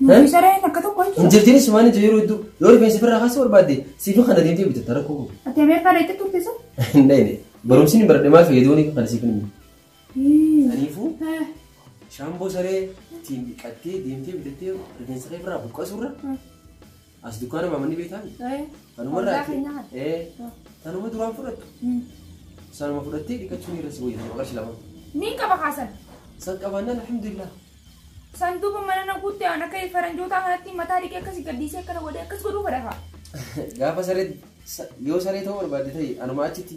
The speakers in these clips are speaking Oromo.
Nuti sareen akka tokko hin jiru. Injirtiin sumaan ija yeroo hedduu yoo rifeensa birraa kaasuu barbaadde siif kana deemtee bitatta rakkoo qabu. Ati Ameerikaa deetti turte sun? Hin dhayne. Barumsi hin baradhe maal fayyaduu ni kana siif hin himu. Kanaafuu shaamboo saree ittiin dhiqattee deemtee bitattee rifeensa kee birraa buqqasurra As dukkaana maamanni beektaan? Eh, Kanuma Ollaa irraati. keenyaa kana. Ee, kanuma duraan fudhattu. Mm. Sanuma fudhattee dhiqachuun irra si wayya jedhama qarshii lama. Niin qaba kaasan. San qabaannaan alhamdulillah. Sanduuqa mana na guutte aan akka faranjootaa kanatti mataa dhiqee akkasi gaddiisee akkana godhee akkas godhuu godhafa. Gaafa saree sa- yoo saree ta'uu barbaadde ta'e anuma achitti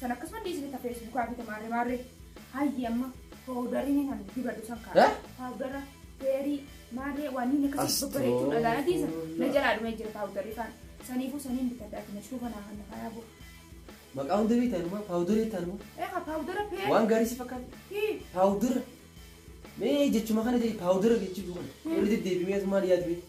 San akkasuma illee isinitti hafee isinitti hafite maarree maarree. Hayyi amma paawudariin kan dibadhu san kaa. Eh? Paawudara feerii maarree waan inni akkasii Astoo. babbareechuu dhagaa natti isa. Na jalaa dhumee jira paawudarii kaan. Saniifuu saniin bitadha ati na shuufa naa hanna faayaa bu'a. Maqaa hunda beektan immoo paawudarii ta'an immoo Eegaa paawudara feerii. waan gaarii si fakkaata. Hii. Paawudara. Mee jechuma kana jedhi paawudara jechuu kana. Irra deddeebi'ee maal yaadu beektu?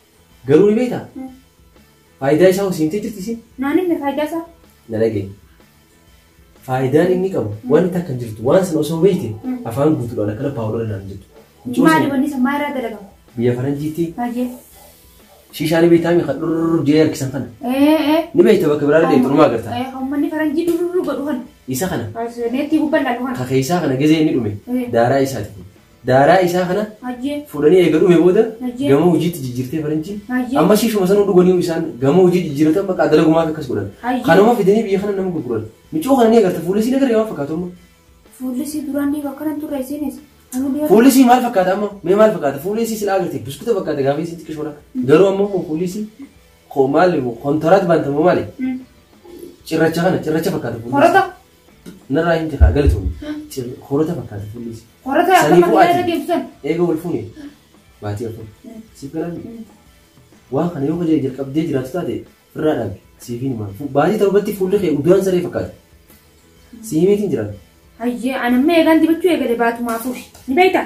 Garuu ni beektaa? Faayidaa isaa hoo si himtee jirti isiin? Naan himne faayidaa isaa. Na dhaga'i. Faayidaan inni qabu wanti takka hin jirtu. Waan sana osoo beekte afaan guutuudhaan akkana paawuloodha naan hin jettu. Mucoo Maali sana wanni san maa irraa dalagama? biyya faranjiitti Baay'ee. shiishaa ni beektaa mi kan dhurrurru jee harkisan kana. Ee ee. Ni beekta bakka biraa illee xurumaa agarta. Ee hammanni faranjii dururuu godhu kana. Isa kana Neettii gubbaan laalu kana. ka keessaa kana gizee inni dhume Eh. daaraa isaati. Daaraa isaa kana Hayyee. fuudhanii eega dhume booda Hayyee. gama hojiitti jijjiirtee faranjiin Hayyee. amma siifuma sanuu dhuganii isaan gama hojii jijjiiratan bakka dalagumaa akkas godhan Hayyee. kanuma fidanii biyya kana nama gurguran miccoo kana ni agarta fuullisii nagarree waan fakkaatu amma Fuullisii duraan ni akkanan turre isinis. Anu dura. fuullisii maal fakkaata amma mee maal fakkaata fuullisii silaa agartee buskuta fakkaata gaafa isiin xiqqishoodha garuu amma immoo fuullisii koo maali kontaraat baantamoo maali Mm. cirracha kana cirracha fakkaata fuullisii. Horata. Narraa hin tefaa galatoom. Horota fakkaata fuullis. Horota akka Sanii makiinaa irra bu'aati. deemtu san. Eega wal fuune baatii afur. Siif galaan waan kana yoo kajaja jalqabdee jiraatu taate irraa dhaabi. Siif hin himaan. Baatii torbatti fuulli kee udaan saree fakkaata. Siimiitiin jiraata. Hayyee anamma eegaan dibachuu eegale baatumaa fuufi. Ni beektaa?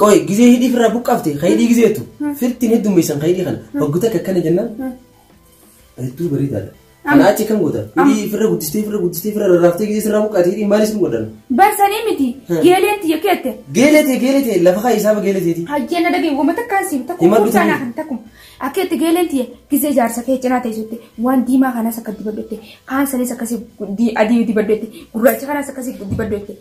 Qoy gizee hidhii firraa buqqaafte ka hidhii gizeetu firtiin heddummeessan ka hidhii kana waggu takka akkana jennaan hedduu bareedaadha. Kana achi kan gootan hidhii firra guddistee firra guddistee firra rarraaftee gizee sirraa buqqaate hidhii maalis hin godhan. Barsanii miti. Hmm. Geeleen tiyya keette. Geeletee geeletee lafa kaa isaaba geeleteeti. Hajjee na dhagee wama takkaan siif takkum Himadhu kuusaa naa tiyya. kan takkum. Akkeetti geeleen tiyya gizee jaarsa kee cinaa teessutti waan diimaa kanas akka dibaddotte kaan sanis akkasii di- adii dibaddotte gurraacha kanas akkasii dibaddotte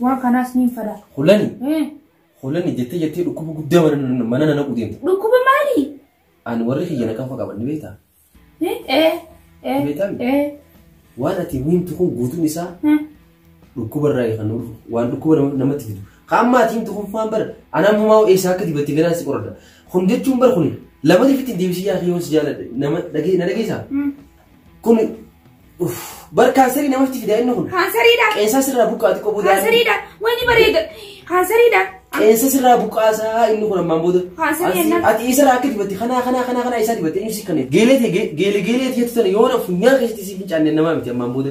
Waan kanaas niin fada. Hulani Eh, hulani jettee jettee dhukkuba guddaa mana mana nana qudeemte. Dhukkuba maali? Ani warri kiyya na kanfa qaban ni beektaa? Eh, eh, eh, Beekan? eh, Waan ati himtu kun guutuun isaa eh. dhukkuba irraa kan dhufu waan dhukkuba nama- namatti fidu. Kaan maatii himtu kun faan bara anaa mumaa eessaa akka dibatte ganaa si qoradha. Kun jechuun bara kun lamati fitti deebisii yaa kiyyoon si jaaladha. Nama dhagee na dhageessaa? Mm. Kun uff bar kaansarii namatti fida inni kun. Kaansariidha. Qeensa sirraa buqqaa xiqqoo booda. Kaansariidha. Wayni bareeda. Kaansariidha. Qeensa sirraa buqqaasaa inni kun ammaan booda. Kaansarii Ati- ennaa- Ati isarraa akka dibatti kanaa kanaa kanaa kanaa isaa dibatte inni si kanneen. Geelee tee geelee geelee tee tutan yoo na funyaan keessatti si fincaanne namaa miti ammaan booda.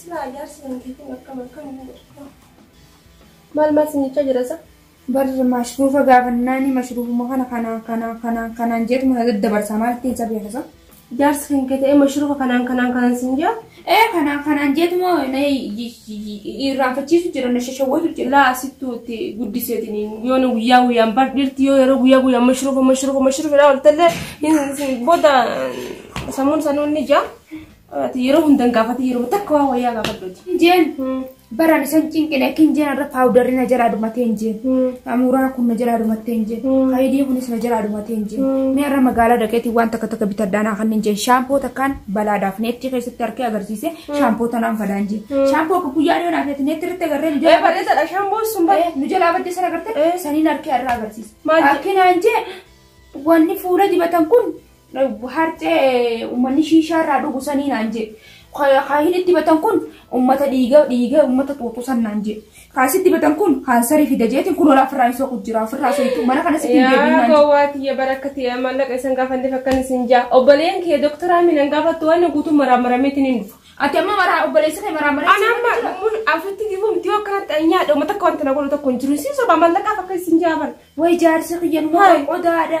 Silaa ijaarsi hin beekin akkam akkam hin godhu. Maal maal sinichaa jira sa? Bar mashruufa gaafannaani mashruufuma kana kanaan kanaan kanaan kanaan jeetuma na daddabarsa maalti isa beekasa. Ijaarsi kan kee ta'ee mashruufa kanaan kanaan kanaan sin jaa? Ee kanaan kanaan jeetuma na irraanfachiisu jira na shashawwatu jira. Laa sittu itti guddiseetiin yoo nu guyyaa guyyaan bar dhirti yoo yeroo guyyaa guyyaan mashruufa mashruufa mashruufa dhaa oltallee booda sammuun sanuun ni jaa. Ati yeroo hunda hin gaafatin yeroo takka waan wayyaa gaafadhuuti. Injeen baraan isan cinqine akka injeen irra paawudarri na jalaa dhumatee injeen. Amuuraa kun na jalaa dhumattee injeen. Hayidii kunis na jalaa dhumatee injeen. Mee irra magaalaa dhaqeetiin waan takka takka bitadhaa naa kan injeen. Shaampoo takkaan balaadhaaf neettii keessatti harkee agarsiise shaampoo tanaan fadaa injeen. Shaampoo akka guyyaa dhiyoo naaf jetti neettii irratti agarree nu Ee jalaa bareeda dha shaamboon sun bareeda. Eh, nu jalaa badde sana agartee saniin harkee irraa agarsiise. Maal je- Harkee naan jee wanni fuula dibatan kun Harcee uummanni shiishaa irraa dhugu sanii naan jee. Kaahin itti batan kun uummata dhiiga dhiiga uummata xuuxu san naan jee. Kaas itti batan kun kaansarii fida jeetiin kun olaa ofirraa hin soqu jira ofirraa soqu mana kana sitti hin deebiin Yaa naan jee. gowwaa tiyya bara akka ta'e maallaqa isan gaafanneef akkan isin jaa. Obboleen kee doktora Aminan gaafattu waan guutuu maraamarameetiin hin dhufa. Ati amma maraa obboleessa kee maraa maraa. Ana amma mun asitti dibuun tiyoo akkanatti anyaa dhuma takka wanta na godhu tokko hin jiru. Isin sobaa maallaqaaf akka isin jaaban. Way jaarsi kiyya numa Hai. qodaadha.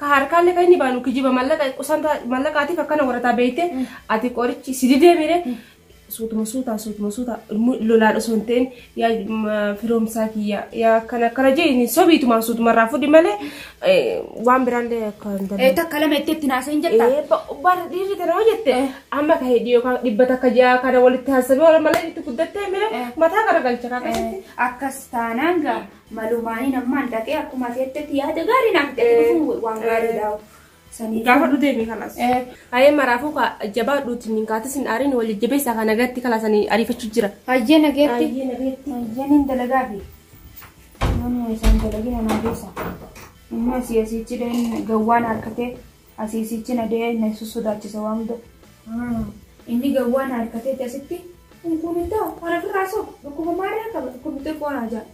Ka harkaalle ka inni baalu kijiba mallaqa qusanta mallaqaatiif akkana warataa beeyte ati qorichi si didee mire suutuma suutaa suutuma suutaa immoo lolaan osoo hin ta'in yaa ma- firoomsaa kiyya yaa akkana akkana jee inni sobiitumaan suutuma irraa fudhi malee eh, waan biraallee akka hin dandeenye. Ee takka lama itti itti naasee hin jettaa? Eh, ba- bara dhiirri kana hoo jette amma ka hedhii yookaan dhibba takka ja'a kana walitti haasabee wal malee itti guddattee mire mataa garagalcha kan akkasitti. Akkas taanaan gaa Malumaaniin ammaan dhaqee akkuma ati jettetti yaada gaarii naaf itti dhufuun waan gaariidha. Sanii Gaafa dhuu deemee kanas. Hayee maraafuu ka jabaa dhuuti min kaatis hin aarin wal jajjabeessaa kana gatti kalasanii ariifachuu jira. Hayyee nageetti. Hayyee nageetti. Hayyee niin dalagaa fi namni isaan dalagina naa geessa. Inni asii asiichi deen gawwaan harkatee Asii sichi na dee na sussodaachisa waan hunda. Haa inni gawwaa na harkateeti asitti. Kun kun hin ta'u ana firraa sob dhukkuba maarree qaba dhukkubni xiqqoo naa ja'a.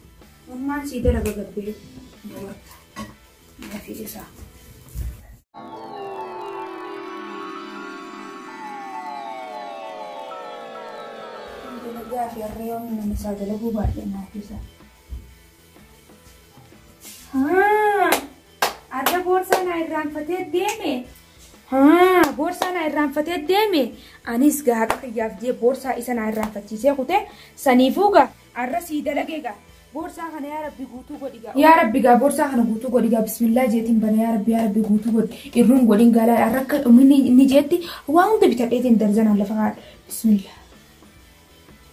Mammaan sii dalaga gabbee dabarta. Na fiigisaa. Dalagaa fi harree waan inni isaa dalaguu baadhee naa fiigisaa. Arra boorsaa naa irraanfatee deeme. Haa boorsaa naa irraanfatee deeme. Anis gaaqa kiyyaaf jee boorsaa isa naa irraanfachiisee kute saniifuu gaa arra sii dalagee gaa. Boorsaa kana yaa rabbi guutuu godhi gaa. Yaa rabbi gaa boorsaa kana guutuu godhi gaa bismillaa jeetiin bana yaa rabbi yaa rabbi guutuu godhi irruun godhin gaalaa arra akka inni inni jeetti waa hunda bitadheetiin darzanaan lafa kaadha bismillaa.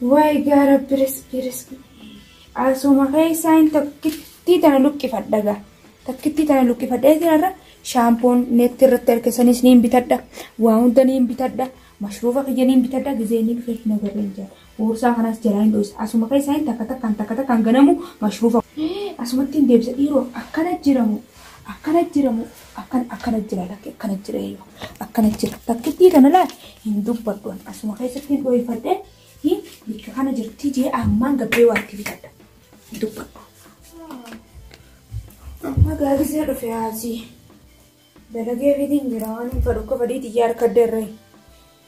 Wly gaa rabbi risqii risqii asuma keessaa hin takkittii tana luqqifadha gaa takkittii tana luqqifadha eetiin irra shaampoon neetti irratti arkesanis niin bitadha waa hunda niin bitadha mashruufa kiyya niin bitadha gizee niin keef na garree hin jira boorsaa kanaas jalaa hin dhoysa asuma keessaa hin takka takkaan takka takkaan ganamu mashruufa asumatti hin deebisa dhiiroo akkana jiramu Akkana jira moo akkan akkana jira lakki akkana jira eeyyoo akkana jira takkittii kana laal hin dubbadhu an asuma keessatti hin dhoofadhe hin bikka kana jirti jee ammaan gabbee waatti bitadha hin dubbadhu. Amma gaafisee dhufe haasii dalagee fitiin jira waan hin fadhu akka fadii xiyyaa harka dirree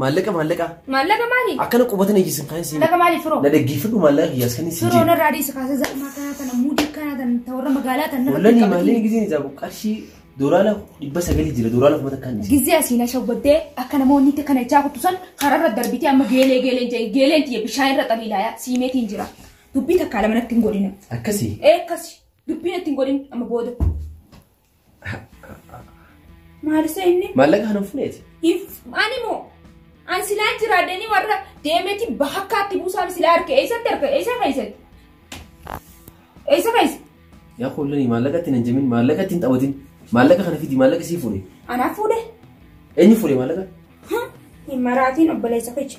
Maallaqa maallaqa. Maallaqa maali? Akkana qubata na ijjisin kan isin. Maallaqa maali firoo? Na dhaggeeffadhu maallaqa kiyyaas kan isin Firoo jee. narraa dhiisa kaasa zalmaa kanaa tana muudii kanaa tana ta warra magaalaa tana. Wallani maallaqa gizeen isaa qarshii doolaara dhibba sagalii jira doolaara kuma takkaan jira. Gizee asiin ashawwaddee akka namoonni itti kana ijaa kuttu san kararra darbitee amma geelee geeleen jee geeleen tiyya bishaan irra xaliilaayaa siimeetiin jira. Dubbii takkaa lama natti hin godhina. Akkasii. Ee akkasi dubbii natti hin godhin amma booda. Maalisa inni? Maallaqa kan funeeti. Ani moo? An silaa jiraadanii warra deemeeti bakkaatti buusaan silaa harka eessatti harka eessa keessatti? Eessa keessa? Yaa kullani maallaqa ittiin hin jimin maallaqa ittiin taphatin maallaqa kana fidi maallaqa sii fuudhe. Anaaf fuudhe? Eenyu fuudhe maallaqa? Hin maraatiin obboleessa kecha.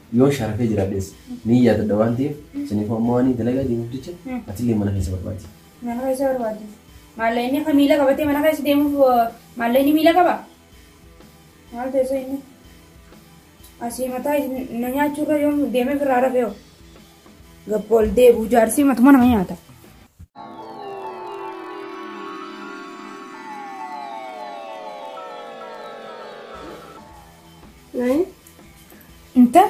Yoon sharafee jiraadhes niin yaadadha waan ta'eef saniifuu amma waaniin dalagaa deemuuf jecha atillee mana keessa barbaadi. Mana keessa barbaadi. Maallee inni akka miila qabatee mana keessa deemuuf maallee inni miila qaba? Maal teessoo inni? Asii mataa na nyaachuurra yoom deemee firraa rafee hoo? Gabba ol deebi'u jaarsii matuma nama nyaata. Naayii Inta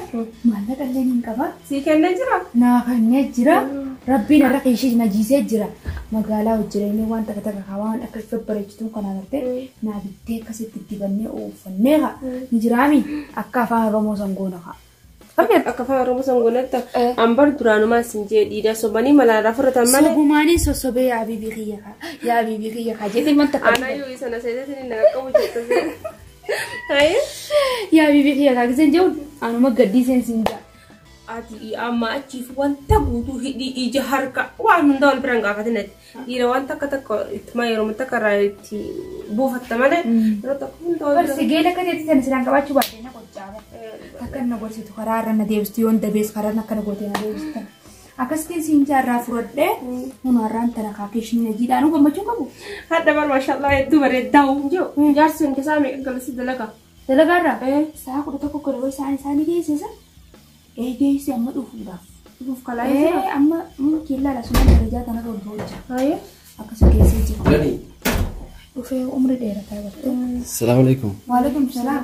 maallaqa illee hin qaba. Sii kennee jira? Naa kennee jira. Rabbiin irra keeshii na jiisee jira. Magaalaa hojjireenii waan takka takka haa waan akka ifa bareechituun kanaa gartee naa bittee akkasitti dibannee uffannee haa. Ni jiraami akka afaan Oromoo san goona haa. Akka afaan Oromoo san goonatti ambar duraanumaan sin jee dhiidaa sobanii malaan rafurratan malee. Sobumaanii sossobee yaa bibii kiyya haa. Yaa bibii kiyya haa jedhee wanta kana. Aanaa yoo isa na seeteetiin hin qaqqabu jettee. Yaa bibii kiyya kaa giseen jehuun anuma gaddii seen siin jaa. Ati amma achiif wanta guutuu hidhii ija harka waan hunda wal biraan gaafatin ati. Dhiira waan takka takka ittuma yeroo takka irraa itti buufatta malee yeroo takka hunda wal Barsi biraan. geela akka ta'etti sana siraan qabaachuu baadhee na qoccaaba. Akka na gorsitu karaa irra na deebistu yoon dabees karaa akkana gootee na deebista. Akkasitiin siin jaa irraa furadhee hunu har'aan tana kaa keeshinii na jiidhaa nu gammachuu qabu. Hadda bar mashallah hedduu bareeddaa hin jiru. Hin jaarsi hin tasaa meeqa galasi dalaga. Dalagaa irraa Eh. sa'a kudha tokko godhe wayii isaan isaanii geessisa. Ee geessi amma dhufuudhaaf. Dhufuuf kalaa Ee jira. amma mm, killaa lasumaan darajaa kana irra hojjaa hojja. Haye. Akkasii geessee jira. Dhufee umri dheerataa bartee. Assalamu alaikum. Waalaikum salaam.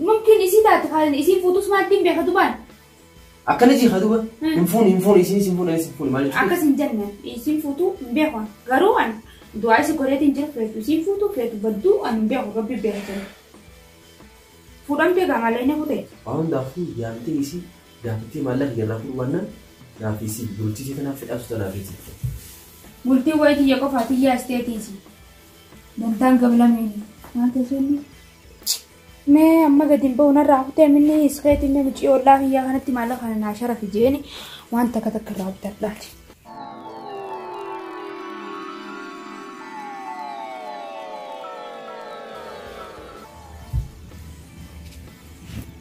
Mumkin isii taate kan isiin fuutus maatti hin beeka dubaan. Akkana jii haa duba. Hmm. Hin fuuni hin fuuni isinis hin fuuni anis hin fuuni maal jechuudha? Akkas hin jenne isiin fuutuu hin beeku. Garuu an du'aa isi godheetiin jira feetu isiin fuutuu feetu badduu an hin beeku rabbi beeka jira. Fuudhamtee gaa malee inni kutee. Waan hundaafuu yaamtee isii gaafattee maallaqa irraa fuudhu baannaan naaf isii bultii tanaaf fedhaatu tanaaf isii. Bultii wayitii yoo qofaa tiyyaa isteetiisi. Dantaan gabalame maal ta'e inni? Mee amma gadi hin ba'u narraa kutee minni iskeetii mee mucii ollaa kiyyaa kanatti maallaqa kana naa sharafi jeeni waan takka takka irraa bitadhaati.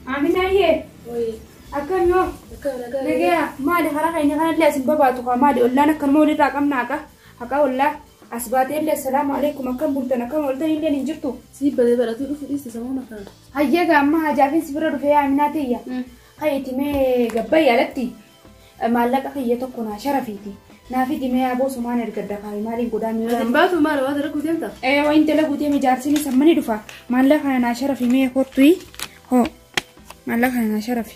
Aminaayee Wayii. akkam yoo Akka nagaa. nagaya maali karaa keenya kanallee asin babaatu kaa maali ollaan akkanuma walirraa qabnaa kaa haqaa ollaa. As baatee illee assalaamu alaikum akkam bultan akkam ooltan illeen hin jirtu. Sii badee baratuu dhufu dhiiste samuun akkanaa. Hayyee gaa amma hajaafin si bira dhufee yaa minaa tiyya. Kan itti mee gabbayyi alatti maallaqa kiyya tokko naa sharafiiti. Naa fidi mee aboo sumaan ergadda kaayi maaliin godhaa Ati miidhaa. hin baatu maal waan dalaguu deemta? Ee wayin dalaguu deeme jaarsiin isa mani dhufa. Maallaqa kana naa sharafi mee kottu hoo. Maallaqa kana naa sharafi.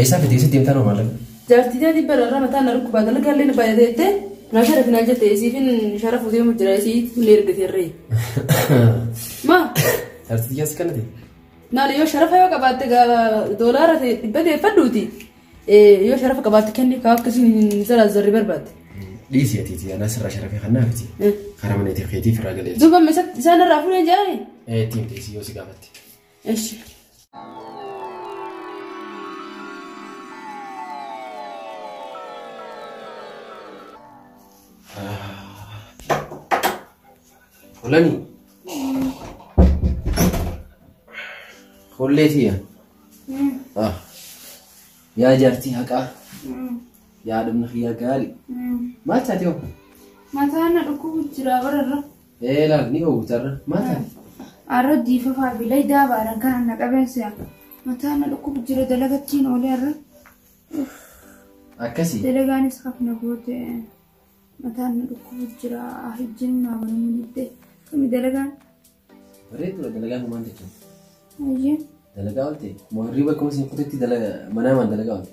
Eessaa fidee si deemtaa nama malee? Jaartii tee dhibba irraa mataa na dhukkubaa dalagaa illee na baay'ate jettee na sharafi naan jette isiifin sharafu deemu jira isii illee ergate irree. Maa Jaartii tiyyaas kanati. maali yoo sharafa yoo qabaatte gaa doolaara ta'e dhibba deeffadhuuti yoo sharafa qabaatte kenni kaa akkasiin hin zaraazarri barbaadde. Dhiisii ati tiyyaa naas irraa sharafee kan naafiti. Karaa mana ittiin keetiif irraa galee. Duuba isaan irraa fuudhee jaa'e. Ittiin dhiisii yoo si gaafatte. Eshi. Fulani. Fullee tiya. Ah. Yaa jaartii haqaa. Yaa dhumna kiyyaa gaarii. Maal taatee hoo? Mataan na dhukkubu jira bararra. Ee laal ni oowwita irra. Maal taate? Arra diifafaa fi laydaa baaran kan anna qabeen se'a. Mataa na dhukkubu jira dalagattiin oolee arra. Akkasii. Dalagaanis hafna goote. Mataan na dhukkubu jira hijjiin naa banamuu didde. Kami dalagaan? Bareedu dalagaan maal jechuudha? Ayyee. Dalagaa oolte. Moo hirriba akkuma isin kutetti dalaga manaa maan dalagaa oolte?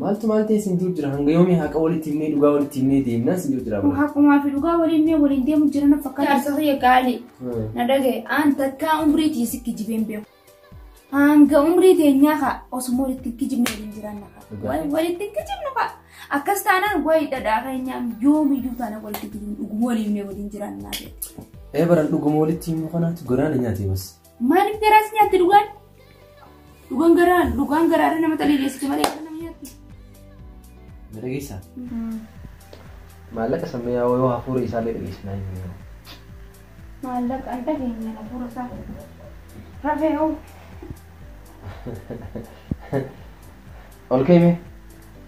Maaltu maal ta'e sin jiru jira hanga yoomii haqa walitti himnee dhugaa walitti himnee deemnaan sin jiru jira. Kun haqumaa fi dhugaa waliin mee waliin deemu jira na fakkaata. Jaarsa kiyya gaalii. Na dhagaye aan takkaa umrii tiyya si kijibeen beeku. Hanga umrii teenyaa kaa osuma walitti hin kijibne waliin jiraanna kaa. Dhugaa. Wal- Walitti hin kijibnu kaa. Akkas taanaan wayi dhadhaa keenyaa yoomiyyuu taana walitti kijibnu dhuguma waliin mee waliin jiraanna. Ee baran dhuguma walitti himnu kanaatu goraana nyaatee bas. Maaliif garaa si nyaatti dhugaan? Dhugaan garaa dhugaan garaa irra nama xaliileessiti malee akka nama nyaatti. Na dhageessa. Maallaqa sammuu yaa'oo yoo hafuura isaallee dhageessinaa hin jiru. Maallaqa hin dhageenye hafuura isaa. Rafee hoo. Ol ka'ime.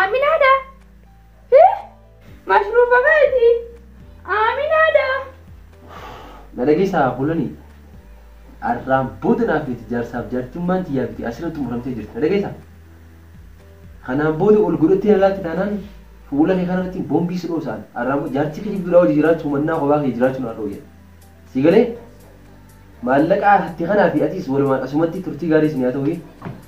Aaminaadha. Hee? Mashruufa baati. Aaminaadha. Na dhageessaa bulanii arraan booda naaf miti jaarsaaf jaartummaan tiyyaa miti asirra xumuramtee jirti na dhageessaa. Kanaan booda ol godhattee na laalti taanaan fuula kee kanarratti boombii si dhoosaan arraan booda jaartii kee jibduudhaa hojii jiraachuu mannaa kophaa kee jiraachuu na dhooyya. Si galee maallaqaa hatti kanaa fi atis walumaan asumatti turtii gaarii isin haa ta'u.